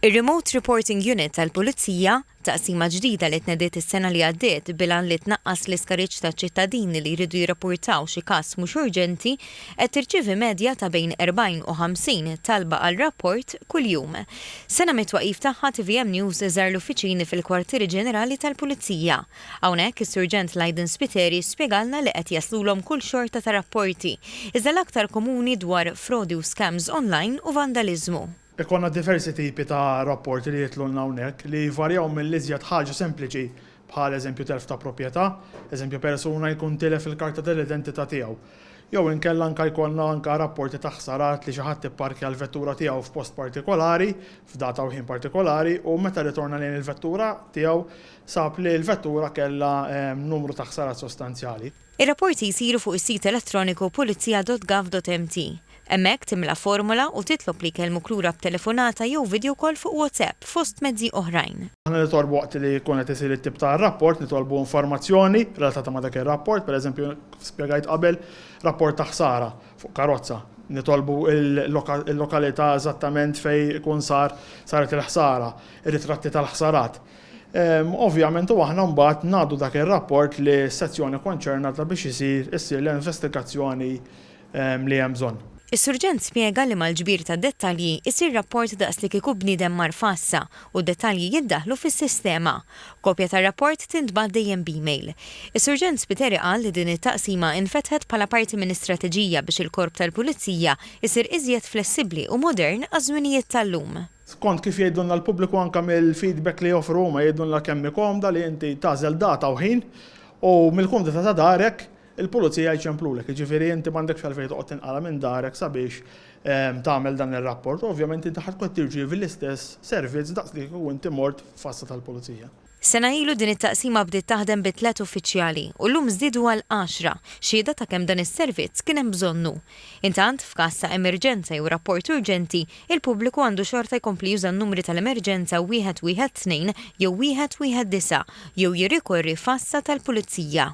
Ir-Remote Reporting Unit tal-Pulizija, taqsima ġdida li tnediet is-sena li għaddiet bil-għan li tnaqqas l-iskariġġ ta' ċittadini li jridu jirrapportaw xi każ mhux urġenti, qed tirċievi medja ta' bejn 40 u 50 talba għal rapport kuljum. Sena mit-twaqqif tagħha tvm News żar l-uffiċini fil-Kwartieri Ġenerali tal-Pulizija. Hawnhekk is-Surġent Lydon Spiteri spjegalna li qed jaslulhom kull xorta ta' rapporti, iżda l-aktar komuni dwar frodi u scams online u vandaliżmu. Ikollna diversi tipi ta' rapporti li jitlulna hawnhekk, li jvarjaw mill-iżjed ħaġa sempliċi, bħal eżempju telf ta' proprjetà, eżempju persuna jkun tilef il-karta tal-identità tiegħu. Jew inkella anke jkollna anke rapporti ta' ħsarat li xi ħadd ipparkja l-vettura tiegħu f'post partikolari, f'data u ħin partikolari, u meta rritorna lejn il-vettura tiegħu sab li l-vettura kellha numru ta' ħsarat sostanzjali. Ir-rapporti jsiru fuq is-sit elettroniku pulizija.gov.mt. Hemmhekk timla formola u titlob li jkellmuk lura b'telefonata jew video call fuq WhatsApp, fost mezzi oħrajn. Aħna nitolbu waqt li jkun qed isir it-tip ta' rapport, nitolbu informazzjoni relatata ma' dak ir-rapport, pereżempju, kif spjegajt qabel, rapport ta' ħsara fuq karozza. Nitolbu l-lokalità eżattament fejn ikun sar, saret il-ħsara, ir-ritratti tal-ħsarat. Ovvjament u aħna mbagħad ngħaddu dak ir-rapport lis-sezzjoni konċernata biex isir issir l-investigazzjoni li hemm bżonn. Is-Surġent spjega li mal-ġbir ta' dettalji jsir rapport daqs li kieku bniedem mar f'għassa u d-dettalji jiddaħħlu fis-sistema. Kopja tar-rapport tintbagħat dejjem b'email. Is-Surġent Spiteri qal li din it-taqsima infetħet bħala parti minn istrateġija biex il-Korp tal-Pulizija jsir iżjed flessibbli u modern għaż-żminijiet tal-lum. Skont kif jgħidulna l-pubbliku anke mill-feedback li joffru huma jgħidulna kemm hi komda li inti tagħżel data u ħin u mill-kumdità ta' darek il-pulizija jċemplulek, jiġifieri inti m'għandekx għalfejn toqgħod tinqala' minn darek sabiex tagħmel dan ir-rapport u ovvjament inti ħa tkun qed tirċievi l-istess servizz daqs li kieku inti mort f'assa tal-pulizija. Sena ilu din it-taqsima bdiet taħdem bi tliet uffiċjali u llum żdiedu għal għaxra, xhieda ta' kemm dan is-servizz kien hemm bżonnu. Intant, f'każ ta' emerġenza jew rapport urġenti, il-pubbliku għandu xorta jkompli juża n-numri tal-emerġenza 112 jew 119 jew jirrikorri f'għassa tal-Pulizija.